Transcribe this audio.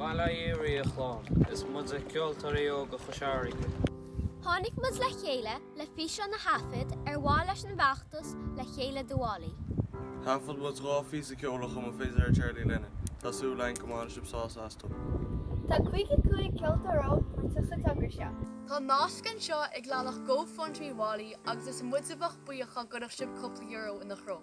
Bail oraibh a chlann, is muide Ceoltóirí Óga Chois Fharraige. Tháinig muid le chéile le físeán a thaifead ar mhaithe leis an bhfeachtas Le Chéile do Wally. Thaifead muid dhá phíosa ceoil a chum an fidléir Charlie Lennon. Tá súil againn go mbainfidh sibh sásamh astu. Tá 55 ceoltóir óg páirteach sa togra seo. Tá nasc anseo ag leathanach Go Fund Me Wally agus is muid a bheadh buíoch dá gcuirfeadh sibh cúpla euro ina threo.